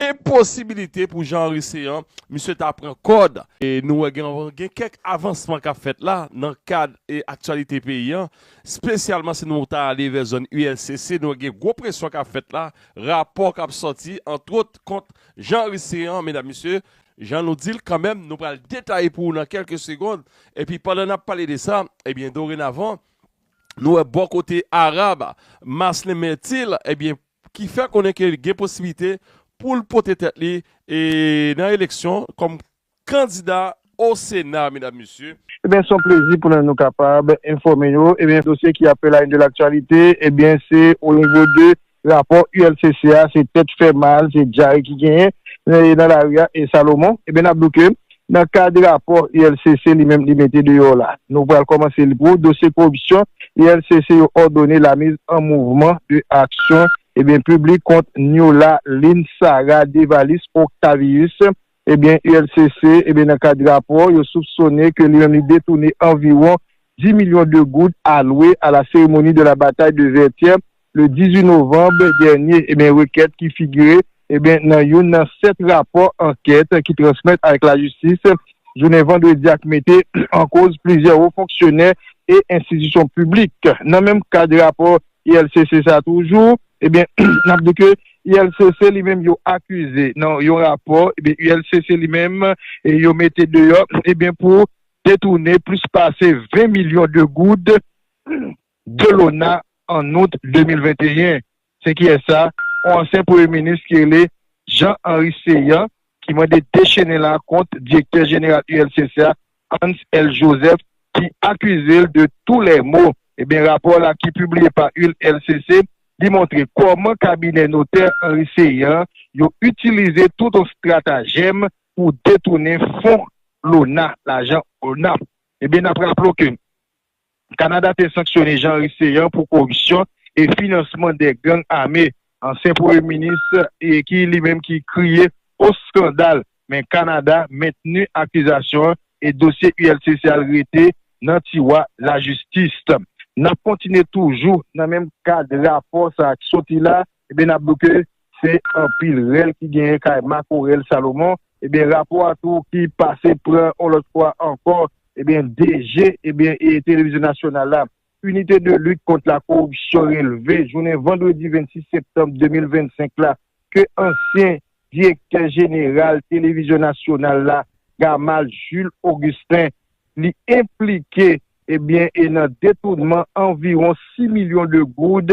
Enposibilite pou Jean Henry Céant, misye ta pran kòd. Nou wè gen kèk avansman k ap fèt la nan kad aktyalite peyi an, spesyalman si nou ta ale vè zòn ULCC, nou wè gen gwo presyon k ap fèt la, rapò k ap sòti antwot kont Jean Henry Céant, medam mesye, jan nou di l kanmenm, nou pral detaye pou ou nan kèlke segond, epi pandan n ap pale de sa, ebyen dorenavan, nou wè bò kote Arab, Maslin Mertil, ebyen ki fè konnen ke gen posibilite pou l pote tèt li nan eleksyon kòm kandida o sena medam mesye. Ebyen son plezi pou nou kapab enfòme yo ebyen dosye ki ap la une de l'actualité ebyen se o nivo de rapò ULCC a se tèt fè mal se dyare ki genyen nan lari a e Salomon ebyen nap di w ke Nan kad rapò ULCC li menm li mete deyò la, nou pral kòmanse li pou ou, dosye koripsyon ULCC yo òdone la miz an mouvman de aksyon ebyen piblik kont Niola Lynn Sarah Devalis Octavius ebyen ULCC ebyen nan kad rapò yo soupsone ke li menm li detoune anviwon 10 milyon de goud alwe a la seremoni de la bataille de Vertière le 18 novanb dènye, ebyen rekèt ki figire ebyen nan youn nan 7 rapò ankèt ki transmèt avèk lajistis jounen vandredi a k mete an koz plizyè wo fonksyonè e enstitisyon piblik. Nan menm kad rapò ILCC sa toujou, ebyen n ap di ke ILCC li menm yo akize nan yon rapò ebyen ILCC li menm yo mete deyò ebyen pou detounen plis pase 20 milyon de goud, Delona an out 2021. Se kiyès sa? On ansyen premye minis ki rele Jean Henry Céant ki mande dechene la kont direktè jeneral ULCC a Hans L. Joseph ki akize l de tou lè mo. Ebyen rapò la ki pibliye pa ULCC li montre kòman kabinè notè Henry Céant yo itilize tout on stratajèm pou detounen fon LONAH, lajan ona. Ebyen nap raple w ke. Kanada te sanksyone Jean-Henry Céant pou koripsyon e finansman 2 gang ame. Ansyen premye minis ki li menm ki kriye o skandal men Kanada mentni akizasyon an e dosye ULCC al rete nan tiwa lajistis. Nap kontinye toujou nan menm kad rapò sa ki soti la, ebyen nap di w ke Se anpil rèl ki genyen kay makorèl Salomon, ebyen rapò a tou ki pase pran on lòt fwa ankò, ebyen DG ebyen Televizyon Nasyonal la, Unité de lutte contre la corruption relve jounen vandredi 26 septanm 2025 la ke ansyen Direktè Jeneral Televizyon Nasyonal la, Gamal Jules Augustin, li enplike ebyen nan detounman anviwon 6 milyon de goud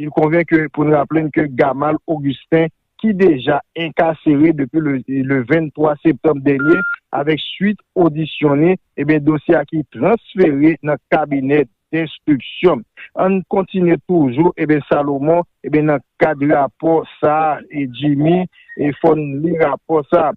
Il convient que pou n raple n ke Gamal Augustin ki deja enkasere depi le 23 septanm dènye avèk suit odisyon ni, ebyen dosye a ki transfere nan kabinè denstriksyon. An n kontinye toujou ebyen Salomon ebyen nan kad rapò sa a Djimy fò n li rapò sa a.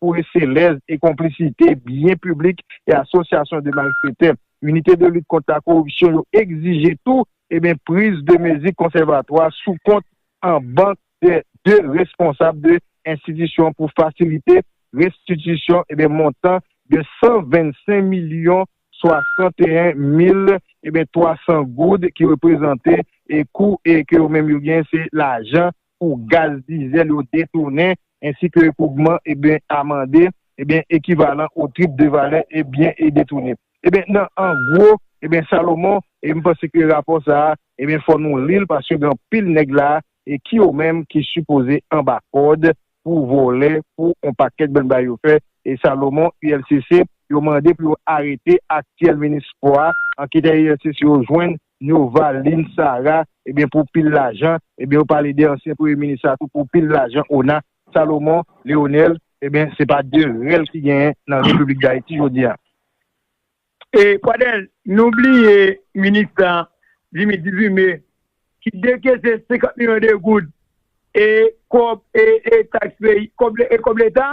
pou reselèz e konplisite byen piblik e asosyasyon de malfetè. Inite de lit kont la koripsyon yo egzije tou ebyen priz de mezi konsèvatwa sou kont an bank de de responsab de enstitisyon pou fasilite restitisyon ebyen montan de 125 milyon 61 mil ebyen 300 goud ki reprezante e kou e ke yo menm yo gen se lajan pou gaz dizèl yo detounen ensi ke pou gman e byen amande e byen ekivalan o trip de valè e byen e detounen. E byen nan an gwo e byen Salomon e m panse ke rapò sa a e byen fò nou li l paske gen anpil nèg la a e ki yo menm ki sipoze anba kòd pou vòlè pou on pakèt bnbay yo fè e Salomon ULCC yo mande pou yo arete aktyèl minis spò a anketè ULCC yo jwenn Nova, Lynn, Sarah, ebyen pou pil lajan, ebyen yo pale de ansyen premye minis la tou pou pil lajan ona, Salomon, Leonel, ebyen se pa de rèl ki genyen nan repiblik dayiti jodi a. E Pradel, nou bliye minis la, Jimmy Dudume, ki dekese 50 milyon de goud e kòb e taks peyi, e kòb leta,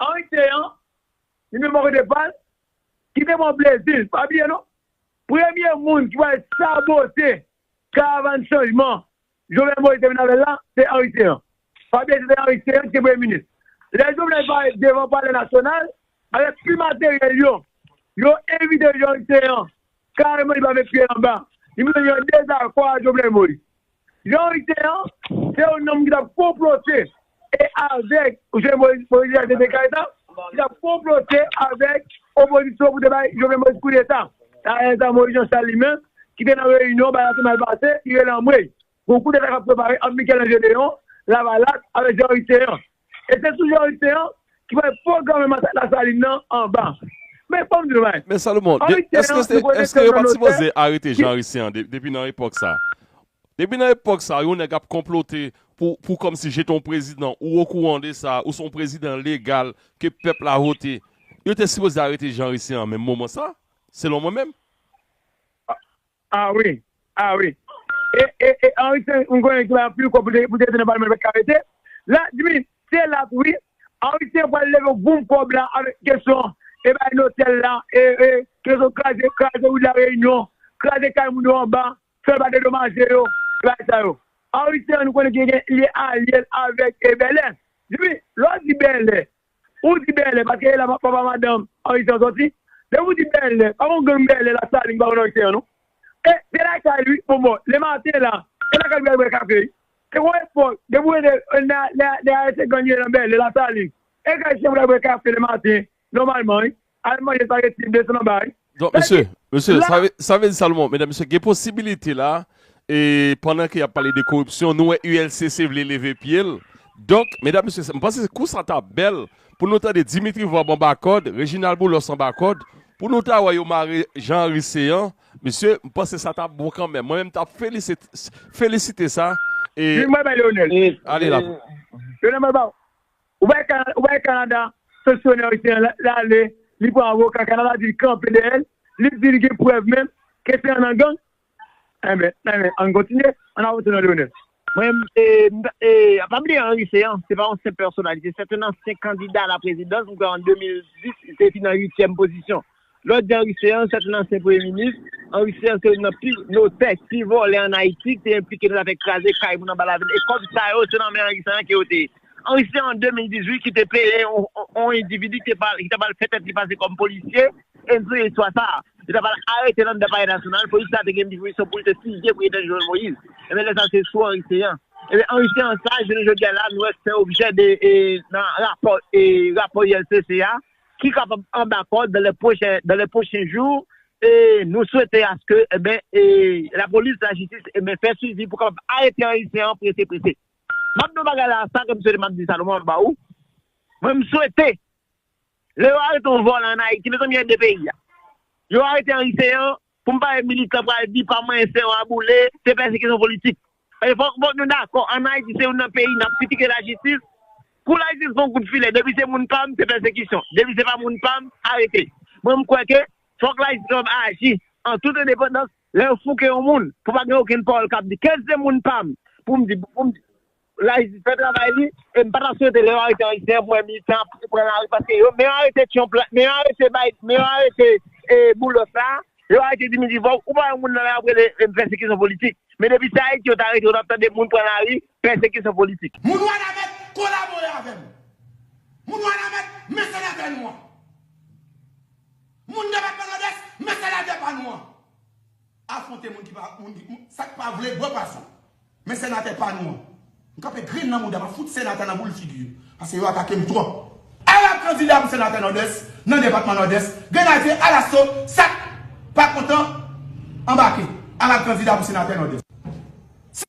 Arete an, li menm bòkote pa l, ki te pran plezi l, pa bliye non, premye moun ki pral sabote karavàn chanjman Jovenel Moïse te vin avè l la, se Arete an. Pa bliye se te Arete an ki te Premye Minis. Lè Jovenel pale devan Palè Nasyonal, avèk pi materyèl yo, yo envite Arete an, kareman li pa met pye l anba, li montre l gen yon dezakò a Jovenel Moïse. Priyorite an, se yon nonm ki t ap konplote e avèk Jovenel Moïse pou rejete Jovenel Moïse Jovenel Moïse ki t ap konplote avèk opozisyon pou te bay Jovenel Moïse koudeta. Dayè sa Moïse Jean Charles li menm ki te nan reyinyon bagay la te mal pase, li rele anmwey, gon koudeta k ap prepare ant Michel-Ange Léon, Lavalas, avèk Jean Ricéan. E se toujou Henri Céant ki pral pwograme Masak Lasalin nan anba. Men fò m di nou bagay. Men Salomon, èske yo pa t sipoze arete Jean Henry Céant depi nan epòk sa a? Depi nan epòk sa a, yon nèg ap konplote pou kòmsi jete yon prezidan, ou okouran de sa, ou se yon prezidan legal ke pèp la vote. Yo te sipoze arete Jean Henry Céant menm moman sa a, selon mwen menm. Ah wi ah wi e e e Henri se yon goyen ki bay anpil kòb pou te pou te rete nan palman li pat ka rete la dmi se lap wi Henri se pral leve yon boum kòb la avèk kesyon e bay notèl la e e kesyon kraze kraze wout la reyinyon kraze kay moun yo anba fè ba dedomaje yo e bagay sa yo Henri se yon nou konnen ki gen li alyel avèk e bèlè dmi lè w di bèlè Ou di bèlè paske e la papa madanm anrich lan sòti, depi ou di bèlè pa gon gang bèlè la salin pa konn anrich lan non e se lakay li wi bon bon le maten la se lakay li pou yal bwè kafe wi se gon epòk depi ou rete lè a lè a se gang yo ye nan bèlè la salin e kay chien pou yal bwè kafe le maten nòmalman wi. Al manje sa resi desann anba wi. Donk mesye, mesye sa vle di Salomon, medam mesye gen posibilite la e pandan ke yap pale de koripsyon nou wè ULCC vle leve pyel donk medam mesye m panse kou sa ta bèl pou nou tande Dimitri Vorbe anba kòd, Reginald Boulos anba kòd pou nou ta wè yo mare Jean Henry Céant mesye m panse sa ta bon kanmenm mwen menm m ta felisite sa e. Ui mwen bay Leonel. Ale la. Leonel mwen baw. Ou pa wè Canada sanksyone ayisyen an li ale li pran avoka Canada di li kanpe dèyè l li di li gen prèv menm ke se yon nan gang enben ann kontinye ann avanse nan Leonel. Mwen pa bliye Henry Céant se pa yon senp pèsonalite se te nan 5 kandida a la prezidans m kwè an 2010 li te vin an 8 tyèm pozisyon Lòd Jan Rice an, sa t yon ansyen premye minis. Jan Rice an se youn nan pi notè, pi vòlè an Ayiti, ki te enplike nan zafè kraze kay moun anba lavil. E kòb sa yo, se nan men Jan Rice an ke yo te ye. Jan Rice se an 2018 ki te peye yon endividi ki ta pral fè tèt li pase kòm polisye, e m souliye istwa sa a. Yo ta pral arete l anndan Palè Nasyonal, polis la te gen dispozisyon pou l te fizye Prezidan Jovenel Moïse. Enben lè sa se sou Jan Rice an. Enben Jan Rice an sa, jounen jodi a la, nou wè fè objè de nan rapò rapò ILCC a. ki kapab anba kòd dan lè pwochen dan lè pwochen jou e nou swete aske enben e lapolis lajistis enben fè swivi pou kapab arete ayisyen an prese prese map di yon bagay la sa kem swete map di sa lonman ba ou mwen m swete lè yo arete yon vòlò an ayiti mezanmi ede peyi a yo arete ayisyen an Pou m pale militan pral di pa manyen se yon aboule, se pèsekisyon politik. Paske fòk fòk nou dakò an Ayiti se youn nan peyi n ap kritike lajistis, kou lajistis pran kout filè depi se moun pa m se pèsekisyon, depi se pa moun pa m arete. Mwen m kwè ke fòk lajistis kapab aji an tout endepandans lè yo fouke yon moun pou pa gen okenn pawòl k ap di ke se moun pa m pou m di pou m di. La jistis fè travay li e m patap swete lè yo arete yon ayisyen pou mwen militan ap pran lari paske yo men yo arete trump la men yo arete biden men yo arete boulos la yo arete dimitri vorbe ou pa wè yon moun nan lari ap rele pèsekisyon politik men depi se ayiti yo ta arete ou tap tande moun pran lari pèsekisyon politik. Moun wanament kolabore avèm moun wanament men senatè nou an moun depatman nòdès men senatè pa nou an. Afronte moun ki pa moun ki moun sak pa vle bwe pwason men senatè pa nou an m kanpe grenn nan mouda map fout senatè nan boul figi yo paske yo atakem twòp ala kandida pou senatè nòdès nan depatman nòdès grenadye alaso sak pa kontan anbake ala kandida pou senatè nòdès si.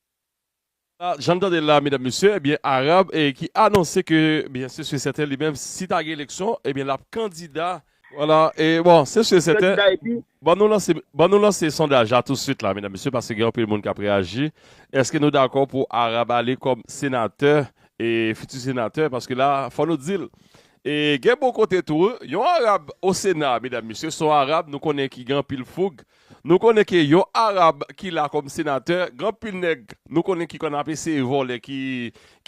Jan n tande l la medam mesye ebyen Arab ki anonse ke ebyen se su e sèten li menm si ta gen eleksyon ebyen l ap kandida. Wala e bon se su e sèten ban nou lanse ban nou lanse sondaj la tousuit la medam mesye paske gen anpil moun k ap reyaji eske nou dakò pou Arab ale kòm senatè e fiti senatè paske la fò nou di l e gen bon kote tou yon Arab o sena medam mesye son Arab nou konnen ki gen anpil foug Nou konnen ke yon Arab ki la kòm senatè, gan pil nèg nou konnen ki konn ap eseye vòlè ki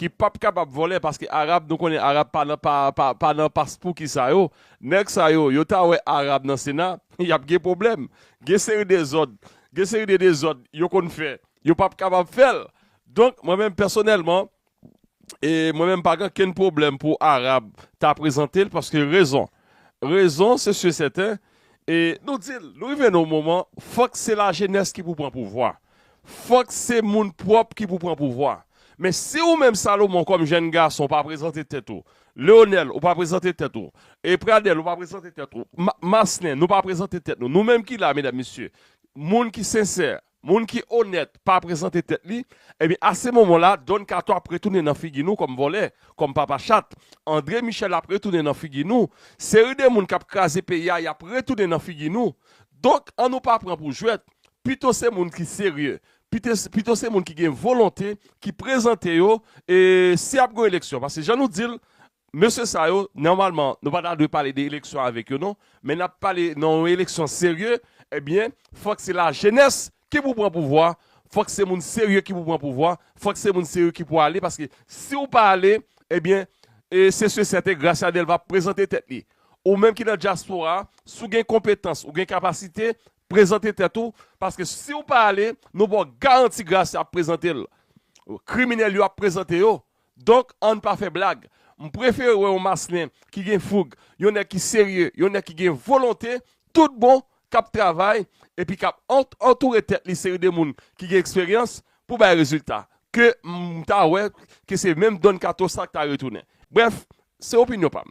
ki pap kapab vòlè paske Arab nou konnen Arab pa nan pa pa nan paspouki sa yo. Nèg sa yo, yo ta wè Arab nan sena, y ap gen pwoblèm. Gen seri de zòd, gen seri de dezòd yo konn fè, yo pap kapab fè l. Donk mwen menm pèsonèlman, e mwen menm pa gen kenn pwoblèm pou Arab ta prezante l paske rezon rezon se si e sèten e nou di l nou rive nan yon moman fòk se lajenès ki pou pran pouvwa fòk se moun pwòp ki pou pran pouvwa men si ou menm Salomon kòm jèn gason ou pa prezante tèt ou Leonel ou pa prezante tèt ou e Pradel ou pa prezante tèt ou Maslen nou pa prezante tèt nou nou menm ki la medam mesye moun ki sensè Moun ki onèt pa prezante tèt li, ebyen a se moman la Don Kato ap retounen nan figi nou kòm vòlè, kòm papa chat, Andre Michel ap retounen nan figi nou, seri de moun kap kraze peyi a yap retounen nan figi nou, donk an nou pa pran pou jwèt, pito se moun ki serye, pito se moun ki gen volonte ki prezante yo e si ap gon eleksyon, paske jan nou dil Mesye sa yo, nòmalman, nou pa ta dwe pale de eleksyon avèk yo non, men n ap pale nan yon eleksyon serye, ebyen, fòk se lajenès ki pou pran pouvwa, fòk se moun serye ki pou pran pouvwa, fòk se moun serye ki pou ale, paske si ou pa ale, ebyen, se si e sèten Gracia Delva ap prezante tèt li. Ou menm ki nan dyaspora a, si ou gen konpetans, ou gen kapasite, prezante tèt ou, paske si ou pa ale, nou ba w garanti Gracia ap prezante l. Kriminèl yo ap prezante yo, Donk ann pa fè blag. M prefere wè yon Maslin ki gen foug, yon nèg ki serye, yon nèg ki gen volonte tout bon k ap travay epi k ap antoure tèt li seri de moun ki gen eksperyans pou bay rezilta ke m ta wè ke se menm Don Kato sa k ta retounen. Brèf, se opinyon pa m.